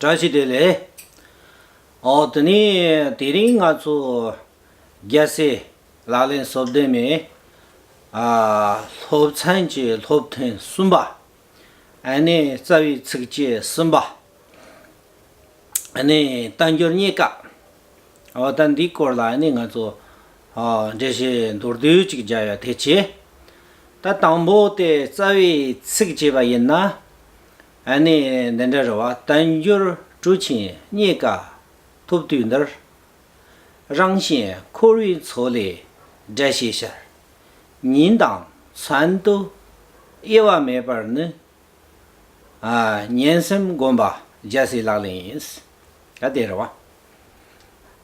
བཀྲ་ཤིས་བདེ་ལེགས། འོ་དེ་ནས་དེ་རིང་ང་ཚོ་རྒྱལ་སའི་ལག་ལེན་གསོལ་འདེབས་མའི་སློབ་ཚན་གྱི་སློབ་ཐུན་གསུམ་པ། ཨ་ནེ་རྩ་བའི་ཚིགས་བཅད་གསུམ་པ། ཨ་ནེ་རྟ་མགྱོགས་རྙེད་དཀའ། འོ་ད་འདིའི་སྐོར་ལ་ཨ་ནེ་ང་ཚོ་འགྲེལ་བཤད་མདོར་བསྡུས་ཅིག་བརྒྱབ་ཡོད་དེ་ཆེ། ད་དང་པོ་དེ་རྩ་བའི་ཚིགས་བཅད་པ་ཡིན་ན། ཨ་ནི་འདི་འདྲ་རེད་བ་བསྟན་འགྱུར་གྲུ་ཆེན་རྙེད་དཀའ་ཐུབ་དུས་འདིར། རང་གཞན་འཁོར་བའི་མཚོ་ལས་བསྒྲལ་ཞེས་ཤར། ཉིན་དང་མཚན་དུ་དབྱེ་བ་མེད་པར་ནི། ཉན་སེམས་སྒོམ་པ་རྒྱལ་སྲས་ལག་ལེན་ཡིན། ད་དེ་རེད་བ།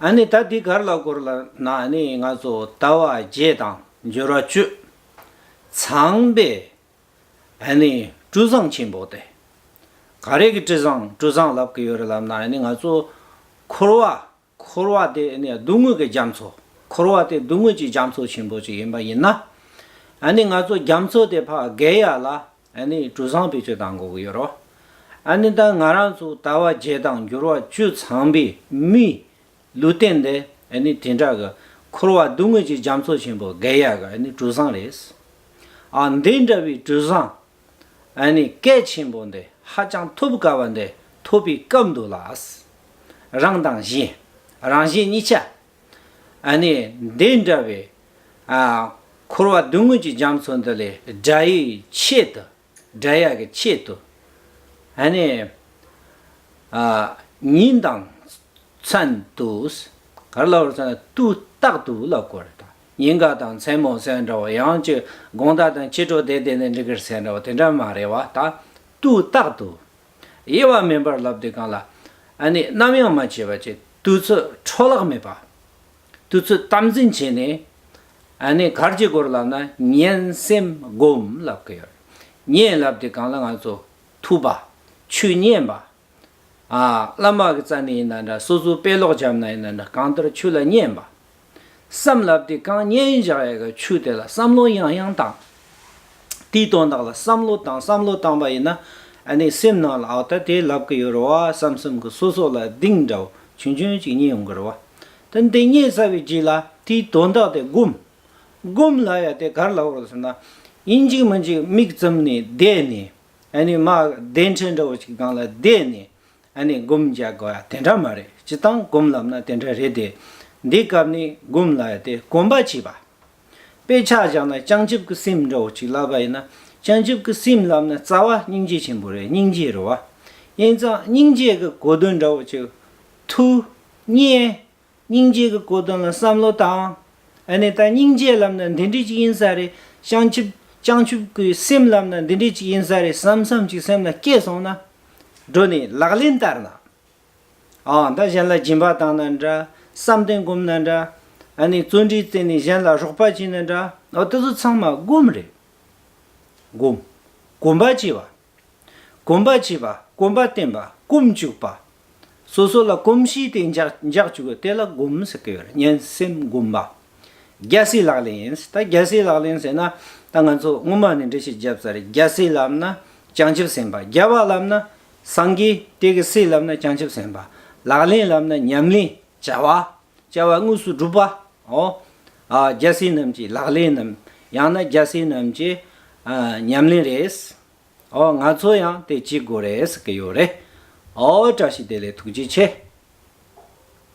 ཨ་ནི་ད་དེ་གར་ལ་བསྐོར་ལ་ན་ཨ་ནི་ང་ཚོ་ལྟ་བ་བརྒྱད་དང་འགྱུར་བ་བཅུ། ཚངས་པའི་ཨ་ནི་སྤྲུལ་བཟང་ཆེན་པོ་སྟེ། ག་རེ་གི་སྤྲུལ་བཟང་སྤྲུལ་བཟང་ལབ་གི་ཡོད་རེད་ལབ་ན་ཨ་ནི་ང་ཚོ། འཁོར་བ། འཁོར་བ་དེ་ཨ་ནི་སྡུག་དངོས་ཀྱི་རྒྱ་མཚོ། འཁོར་བ་དེ་སྡུག་དངོས་ཀྱི་རྒྱ་མཚོ་ཆེན་པོ་ཅིག་ཡིན་པ་ཡིན་ན། ཨ་ནི་ང་ཚོ་རྒྱ་མཚོ་དེ་ཕག་རྒལ་ཡ་ལ་ཨ་ནི་སྤྲུལ་བཟང་བེད་སྤྱོད་གཏང་དགོས་ཀྱི་ཡོད་རོ། ཨ་ནི་ད་ང་རང་ཚོ་ལྟ་བ་བརྒྱད་དང་འགྱུར་བ་བཅུ་ཚང་པའི་མི། ལུས་རྟེན་འདི་ནི་དེ་འདྲ་གི། འཁོར་བ་སྡུག་བསྔལ་གྱི་རྒྱ་མཚོ་ཆེན་པོ་བརྒལ་ཡ་གི་གྲུ་གཟིངས་རེད། ཨ་འདི་འདྲ་བའི་གྲུ་གཟིངས་སྐད་ཆེན་པོ་འདི་ཧ་ཅང་ཐོབ་དཀའ་བ་འདི་ཐོབ་པའི་སྐབས་འདུག་ལ། རང་དང་གཞན་རང་གཞན་གཉིས་ཆ། འདི་འདྲ་བའི། འཁོར་བ་སྡུག་བསྔལ་གྱི་རྒྱ་མཚོ་འདི་ལས་དགྲ་ཡི་ཆེད་དུ། སྒྲ་ཡག་གི་ཆེད་དུ། ཨ་ནི། ཨ། ཉིན་དང། མཚན། དུ། ག་རེ་ལ་བར་མཚན། དུ། རྟག་ཏུ་ལ་གོ་རེ་ད། ཉིན་ག་དང་མཚན་མོ་གསལ་འདྲ་བ་ཡང་གཅིག་དགོངས་དག་དང་ཕྱི་དྲོ་དེ་དེ་ནས་འདི་གར་གསལ་འདྲ་བ་དེ་འདྲ་མ་རེད་བ་ད། དུ། རྟག་ཏུ། དབྱེ་བ་མིན་པར་ལབ་དེ་གང་ལ། ཨ་ནི། ནམ་ཡང་མ་བྱས་པ་ཅི། དུས་ཚོད་འཕྲོ་བརླག་མེད་པ། དུ་ཚུལ་གཏམ་འཛིན་བྱས་ནས། ནས་གར་གྱི་སྐོར་ལབ་ན་ངན་སེམས་སྒོམ་ལབ་གི་ཡོད། ངས་ལབ་དེ་གང་ལ་ང་ཚོ་ཐུབ་པ། ཆོས་མཉན་པ། བླ་མ་གི་རྩ་ནས་ཡིན་ན་འདྲ་སོ་སོའི་དཔེ་ཀློག་བྱམས་ན་ཡིན་ན་འདྲ་གང་ལྟར་ཆོས་ལ་མཉན་པ། བསམ་ལབ་དེ་གང་མཉན་བཞག་ཡག་གི་ཆོས་དེ་ལ་བསམ་བློ་ཡང་ཡང་བཏང། དེའི་དོན་དག་ལ་བསམ་བློ་བཏང་བསམ་བློ་བཏང་པ་ཡིན་ན། ནས་སེམས་ནང་ལ་ཨོ་ད་དེ་ལབ་གི་ཡོད་རེད་བ་བསམ་བསམ་གི་སོ་སོ་ལ་གདིང་འདྲ་བོ་ཆུང་ཆུང་ཅིག་མཉན་ཡོང་གི་རེད་བ། དེ་འདི་ཉིད་བསལ་བའི་རྗེས་ལ་དེའི་དོན་བདག་དེ་བསྒོམ། བསྒོམས་ལ་ཡང་དེ་གར་ལ་བར་ཟེར་ན། ཡིན་གཅིག་མིན་གཅིག་མིག་བཙུམ་ནས་བསྡད་ནས། མ་བདེན་ཕྲན་འདྲ་བོ་ཞིག་སྒང་ལ་བསྡད་ནས། བསྒོམ་བྱ་དགའ་བ་དེ་འདྲ་མ་རེད་ཅེས་དང་བསྒོམ་ལབ་ན་དེ་འདྲ་རེད་དེ། འདི་སྐབས་ནས་བསྒོམས་ལ་ཡང་དེ་གོམས་པ་བྱས་པ། དཔེ་ཆ་བཞག་ན་བྱང་ཆུབ་ཀྱི་སེམས་འདྲ་བོ་ཅིག་ལབ་པ་ཡིན་ན། བྱང་ཆུབ་ཀྱི་སེམས་ལབ་ན་རྩ་བ་སྙིང་རྗེ་ཆེན་པོ་རེད་སྙིང་རྗེ་རེད་བ། ཡིན་ཙང་སྙིང་རྗེ་གི་གོ་དོན་འདྲ་བོ་ཅིག་ཐུགས། གཉིས། སྙིང་རྗེ་གི་གོ་དོན་ལ་བསམ་བློ་བཏང། ཨ་ནེ་ད་སྙིང་རྗེ་ལབ་ན་འདི་འདྲི་ཅིག་ཡིན་ས་རེད་བྱང་ཆུབ་བྱང་ཆུབ་ཀི་སེམས་ལབ་ན་འདི་འདྲི་ཅིག་ཡིན་ས་རེད་བསམ་བསམ་ཅིག་སེམས་ལ་སྐྱེས་སོང་ན། འགྲོ་ནས་ལག་ལེན་བསྟར་ན། འང་ད་གཞན་ལ་སྦྱིན་པ་བཏང་ན་འདྲ་བསམ་གཏན་བསྒོམ་ན་འདྲ། ཨ་ནེ་བརྩོན་འགྲུས་བརྩེ་ནས་གཞན་ལ་རོགས་པ་བྱས་ན་འདྲ། འོ་དེ་ཚོ་ཚང་མ་སྒོམ་རེད། སྒོམ། གོམས་པ་བྱས་པ། གོམས་པར་བྱེད་པ། གོམས་པར་བརྟེན་པ། སྐོམ་བཅུག་པ། སོ་སོ་ལ་གོམས་གཤིས་དེ་འཇགས་བཅུག་གི་དེ་ལ་སྒོམས་ཟེར་གི་ཡོད་རེད་སྙན་སེང་སྒོམ་པ། རྒྱལ་སྲས་ལག་ལེན། ད་རྒྱལ་སྲས་ལག་ལེན་ཟེར་ན་ད་ང་ཚོ་སྔོན་མ་ནས་འབྲི་ཤེས་རྒྱབ་ས་རེད་རྒྱལ་སྲས་ལབ་ན་བྱང་ཆུབ་སེམས་དཔའ་རྒྱལ་བ་ལབ་ན་སངས་རྒྱས་དེ་གི་སྲས་ལབ་ན་བྱང་ཆུབ་སེམས་དཔའ་ལག་ལེན་ལབ་ན་ཉམས་ལེན་བྱ་བ། བྱ་བ་དངོས་སུ་སྒྲུབ་པའོ། རྒྱལ་སྲས་རྣམས་ཀྱི་ལག་ལེན་ནམ་ཡང་ན་རྒྱལ་སྲས་རྣམས་ཀྱི་ཉམས་ལེན་རེད། ང་ཚོ་ཡང་དེ་བྱེད་དགོས་རེད་ཟེར་གྱི་ཡོད་རེད། བཀྲ་ཤིས་བདེ་ལེགས་ཐུགས་རྗེ་ཆེ།